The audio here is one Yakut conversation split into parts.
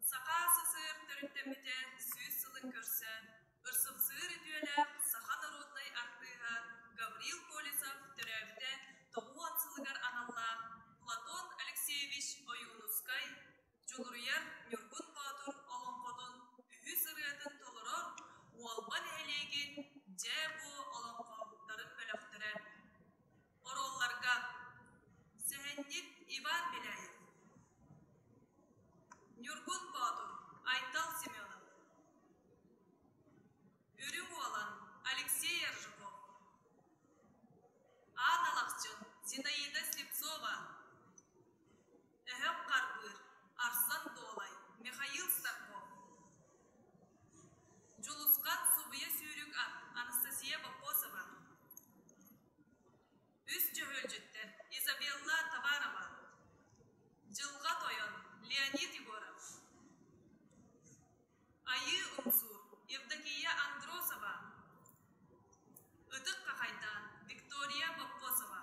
Саха СССР төрүттэммитэ сүүс сылын көрсө, ырсыксыыр үтүөлээх саха норуодунай артыыһа Гаврил Колесов төрөөбүтэ тоҕуон сылыгар аналлаах Платон Алексеевич Ойуунускай Дьулуруйар Ньургун Боотур олоҥхотун үһүс ырыатын толорор Уолба нэһилиэгин Дьэ-бо олоҥхоһуттарын бөлөхтөрө Оруолларга сэһэнньит Иван Беляев, Ньургун Боотур, Айтал Семенов, Үрүҥ Уолан, Алексей Ержуков, Аан Алахчын, Зинаида Слепцова, Өһөх Харбыыр, Арсан Дуолай, Михаил Старков, Дьулусхан Субуйа Сүүрүк Анастасия Бокосова, Үс дьөһүөлдьүттэр Изабелла Товарова, Дьылҕа Тойон, Леонид Егоров, Айыы Умсуур, Евдокия Андросова, Ытык Хахайдаан, Виктория Поппосова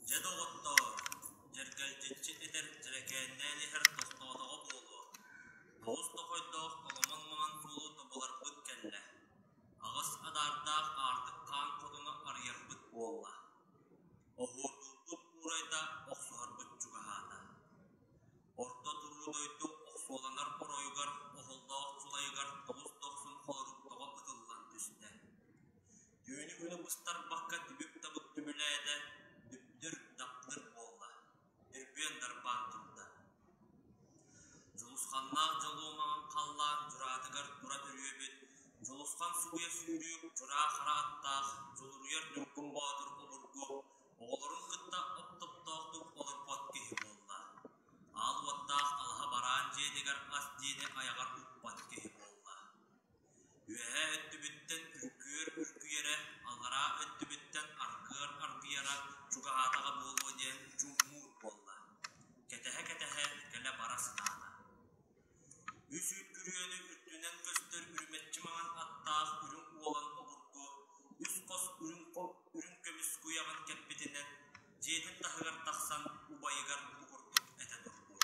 Дьэ, доҕоттоор, дьэргэлдьиччи этэр дьэрэкээннээн иһэр тохтоотоҕо буолуо. Олус дохойдоох оломон-маман буолуу тобуларбыт кэллэ. Аҕыс адаардаах аартыкхаан хотуну арыйарбыт буолла Оһуордурдук уурайда охсуһарбыт чугаһаата. Орто туруу дойду охсуоланар оройугар оһоллоох сулайыгар олус дохсун холоруктоҕо ытыллан түстэ. Түүнү-күнү быстарбакка түбүк-табык түбүлээтэ, дүптүр-даптыр буолла Өрбүөн Нарбаан турда. Дьулусханнаах дьолуо маҥан халлаан дьураатыгар тура төрүөбүт Дьулусхан субуйа сүүрүүк дьураа-хара аттаах Дьулуруйар Ньургун Боотур обургу оҕолорун кытта от топтоохтук олорбот киһи буолла. Аал уоттаах алаһа бараан дьиэтигэр ас диэни айаҕар укпат киһи буолла Үөһээ өттүбүттэн үҥкүүр үҥкүйэрэ, алараа өттүбүттэн аргыар аргыйара чугаһаатаҕа буолуо диэн дьуммуур буолла, кэтэһэ-кэтэһэ кэлэ-бара сатаата. Үс үүт күрүөнү үрдүнэн көстөр үрүмэччи маҥан аттаах үрүҥ уолан обургу үс хос үрүҥ үрүҥ көмүс куйаҕын кэппитинэн дьиэтин таһыгар тахсан убайыгар бугурдук этэ турбут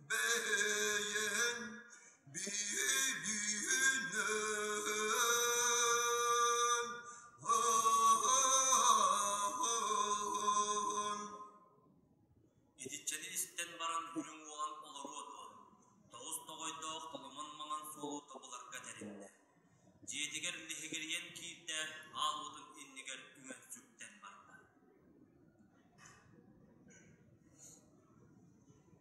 бэйэҥ билинэн аан Итиччэни истэн баран үрүҥ уолан олоруо дуо, тоҕус тоҕойдоох толомон маҥан суолу тобуларга тэриннэ. Дьиэтигэр лиһигирийэн киирдэ, аалбытын иннигэр үҥэн сүктэн барда.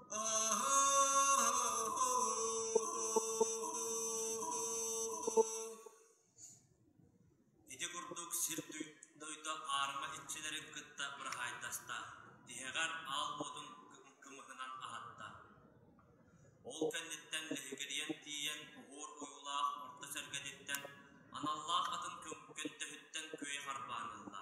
Ити курдук сир дойду аарыма иччилэрин кытта быраһаайдаста, тиһэҕэр аал буотун кымыһынан аһатта. Ол кэнниттэн лэһигирийэн тиийэн уһуур уйуулаах орто сэргэтиттэн аналлаах атын көҥкөн төһүттэн күөй харбаан ылла.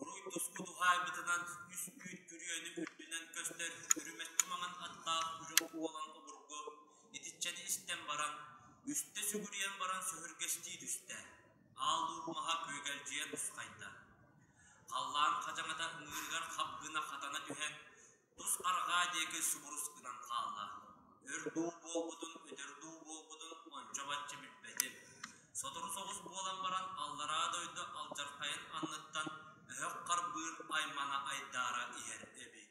Уруй тоску туһаайбытынан үскүүт күрүөнү үрдүнэн көстөр үрүмэт тумаҕын аттаах үрүҥ уолан обургу итиччэни истэн баран үстэ сүгүрүйэн баран сөһүргэстии түстэ аал дууп маһа күөгэлдьийэ тусхайда Халлаан хачаҥата ыҥыырыгар хабгына хатана түһэн, тус арҕаа диэки субурус гынан хаалла. Өр дуу буолбутун, өтөр дуу буолбутун ончо-бачча билбэтим. Сотору соҕус буолан баран аллараа дойду алдьархайын анныттан өһөх харбыыр аймана айдаара иһэр эбит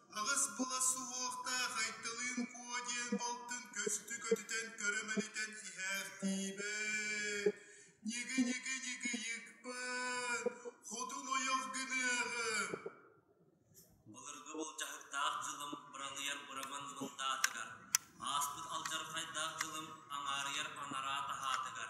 Аҕыс була суохтаах Айталыын Куо диэн балтын көстүү көтүтэн көрө-мэлитэн иһээхтиибэт, ньиги-ньиги-ньигийикпэт, хотун ойох гыныаҕым Былыргы былдьаһыктаах дьылым быраныйар быраман ылдаатыгар, ааспыт алдьархайдаах дьылым аҥаарыйар анараа таһаатыгар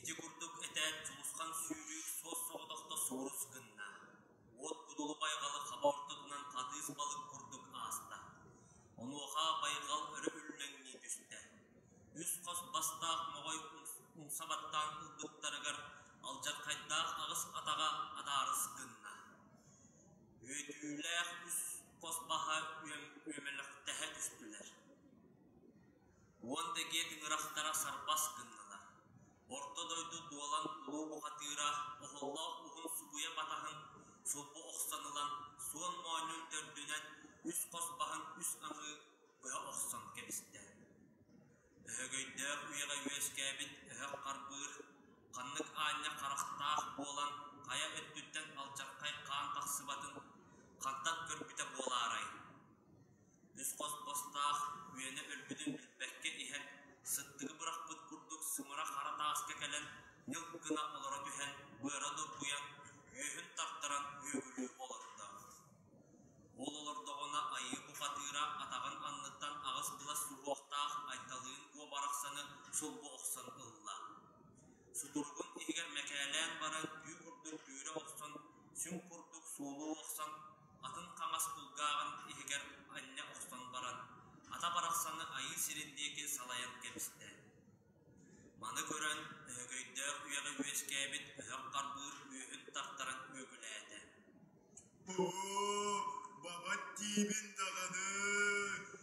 Ити курдук этээт сулусхан сүүрүүк суос-соҕотохто суурус гынна, уот будулу-байҕалы хаба ортотунан хатыыс балык курдук ааста, онуоха байҕал өрө үллэҥнии түстэ, үс-хос бастаах моҕой умса баттаан ылбыттарыгар алдьархайдаах аҕыс атаҕа адаарыс гынна, үөтүүлээх үс хос баһа үөмэлэхтэһэ түстүлэр уонна дьиэ тыҥырахтара сарбас гыннылар. Орто дойду дуолан улуу уһатыыра оһоллоох уһун субуйа батаһын субу охсон ылан суон моонньун төрдүнэн үс хос баһын үс аҥыы быа охсон кэбистэ. Өһөгөйдөөх үйэҕэ үөскээбит өһөх харбыыр, ханнык аанньа харахтаах буолан хайа өттүттэн алдьархай хаан тахсыбатын хантан көрбүтэ буолаарай? үс хос бостаах үөнэ өлбүтүн билбэккэ иһэн, сыттыгы бырахпыт курдук сымара хара тааска кэлэн ньылк гына олоро түһэн, быара нургуйан, үөһүн тартаран үөгүлүү олордо. Ол олордоҕуна айыы бухатыыра атаҕын анныттан аҕыс былас уһуохтаах Айталыын куо барахсаны сулбу охсон ылла. Сутуругун иһигэр мэкээлээн баран,үү курдук дүүрэ охсон, сүҥ курдук суолуу охсон, атын хаҥас кулгааҕын иһигэр анньа охсон баран, ата барахсаны айыыр сирин диэки салайан кэбистэ. Маны көрөн Өһөгөйдөөх үйэҕэ үөскээбит өһөх харбыыр үөһүн тартаран үөгүлээтэ: «Боо, бабат диибин даҕаны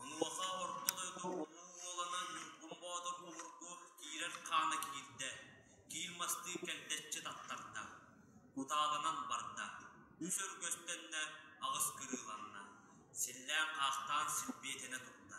Онуоха орто дойду Улуу Уоланан Ньургун Боотур уһургу киирэр хаана киирдэ, киил мастыы кэлтэччи таттарда, кутаалынан барда, үс өргөстөннө, аҕыс кырыыланна, силлээн-хаахтаан силбиэтэнэ турда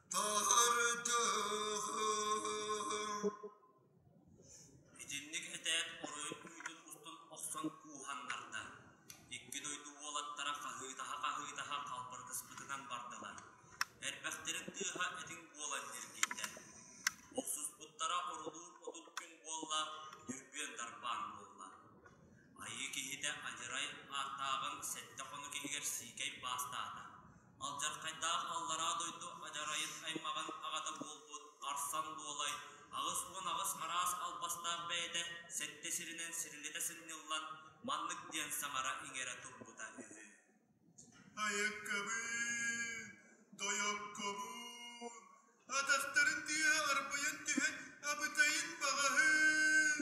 Итинник этээт оройун быытын устун охсон кууһаннарда. Икки дойду уолаттара хаһыытаһа-хаһыытаһа халбарытыспытынан бардылар. Эрбэхтэрин тыаһа этиҥ буолан дьиргийдэ. Охсуспуттара орулуур отут күн буолла, дүрбүөн тарбаан буолла. Айыы киһитэ адьырай ааттааҕын сэттэ хону киһигэр сиикэй баастаата. Алдьархайдаах аллараа дойду адьарайын аймаҕын аҕата буолбут Арсан Дуолай аҕыс уон аҕыс араас албастаах бэйэтэ сэттэ сиринэн сирилитэ сынньыллан маннык диэн саҥара-иҥэрэ турбута үһү Айыккабыын, тойоккобуун, Атахтарын тыаһа арпайан түһэн абытайын баҕаһын,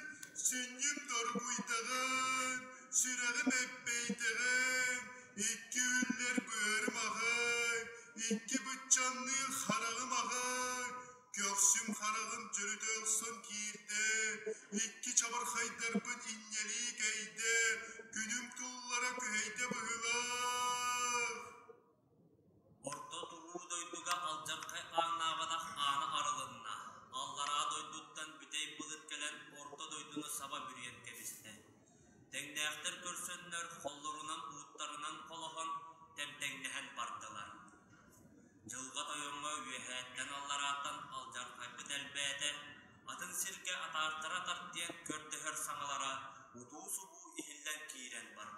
сүнньүм доргуйдаҕын, сүрэҕим эппэйдэҕин, икки үллэр быарым аҕай, икки быччанныыр хараҕым аҕай, көхсүм хараҕым төрүтэ охсон киирдэ, икки чабырхайдарбын инньэлии кэйдэ, күнүм туллара күһэйдэ быһыылаах. Орто туруу дойдуга алдьархай ааҥнаабатах аана арылынна, аллараа дойдуттан бүтэй былыт кэлэн орто дойдуну саба бүрүйэн кэбистэ. Тэҥнээхтэр көрсөннөр холлорунан-ууттарынан холоһон, тэмтэҥнэһэн бардылар. Дьылҕа Тойоҥҥо үөһээттэн аллараатан алдьархайбыт элбээтэ, атын сиргэ атаартара тардыйан көрдөһөр саҥалара утуу-субуу иһиллэн киирэн барбыт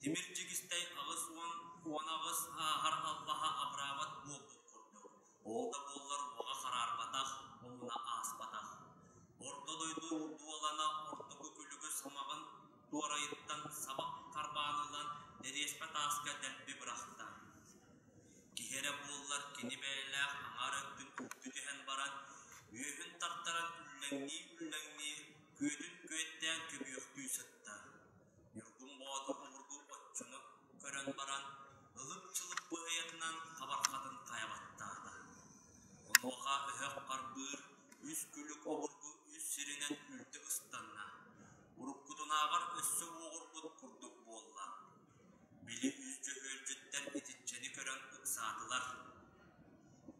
Тимир чигистэй аҕыс уон уон аҕыс ааһар аллаһа абыраабат буолбут курдук, ол да буоллар уҕа хараарбатах, омуна ааспатах. Орто дойду дуулана ортоку күлүгүс ымаҕын туорайыттан сабах харбаанынан дэриэспэ тааска дэлби бырахта. Киһи эрэ буоллар кини бэйэлээх аҥаар өттүн үктү түһэн баран, үөһүн тартаран үллэҥнии-үллэҥнии, күөтүн күөттээн көбүөхтүү сытта. Ньургун Боотур нуургу отчуну көрөн баран, ылым-чылым быһыйатынан хабарҕатын хайа баттаата. Онуоха өһөх харбыыр үс күлүк обургу үс сиринэн үлтү ыстанна. Уруккутунааҕар өссө уоҕурбут курдук буолла. Били үс дьөһүөлдьүттэн итиччэни көрөн ыксаатылар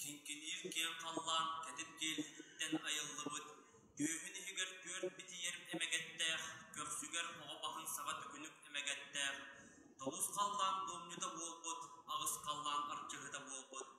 Киҥкиниир киэҥ халлаан кэтит киэлититтэн айыллыбыт, түөһүн иһигэр түөрт битийэр эмэгэттээх, көхсүгэр оҕо баһын саба төкүнүк эмэгэттээх, толус халлаан дуомньута буолбут, аҕыс халлаан арчыһыта буолбут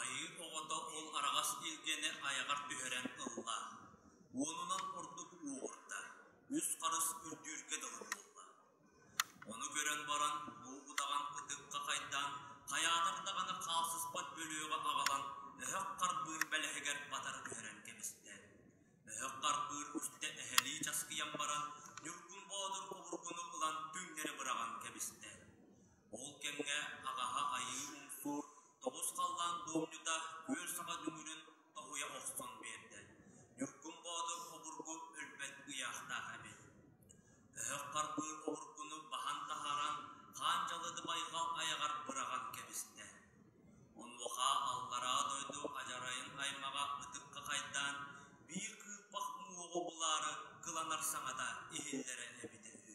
Айыы оҕото ол араҕас илгэни айаҕар түһэрэн ылла, уонунан ордук уоҕурда, үс харыс үрдүүргэ дылы буолла. Ону көрөн баран бу удаҕан ытыкка хайдаан, хайаатар даҕаны хаалсыспат бөлүөҕэ аҕалан, өһөх харбыыр бэлэһигэр батары түһэрэн кэбистэ. Өһөх харбыыр үстэ эһэлии часкыйан баран, Ньургун Боодур обургуну ылан түҥнэри быраҕан кэбистэ. Ол кэмҥэ аҕаһа Айыы Уҥкуу тобус халлаан буомньута күөл саба дүҥүрүн тоһуйа охсон биэрдэ. Ньургун Боотур обургу өлбөт ыйаахтаах эбит. Өһөх харбыыр обургуну баһан таһааран, хаан дьалыдыбайга айаҕар быраҕан кэбистэ. Онуоха аллараа дойду адьарайын аймаҕа ытыкка хайдаан, биир кыырпах уҥуоҕу булаары кыланар саҥата иһиллэрэ эбитэ үһү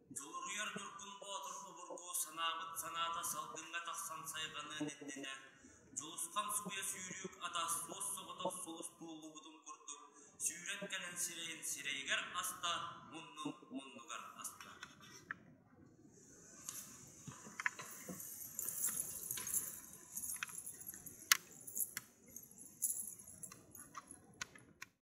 Дьулуруйар Ньургун Боотур обургу санаабыт санаата салгыҥҥа тахсан сайҕаныан иннинэ, Дьулусхан субуйа сүүрүүк атас туос соҕотох сулус туоллубутун курдук сүүрэн кэлэн сирэйин сирэйигэр аста, муннун муннугар аста.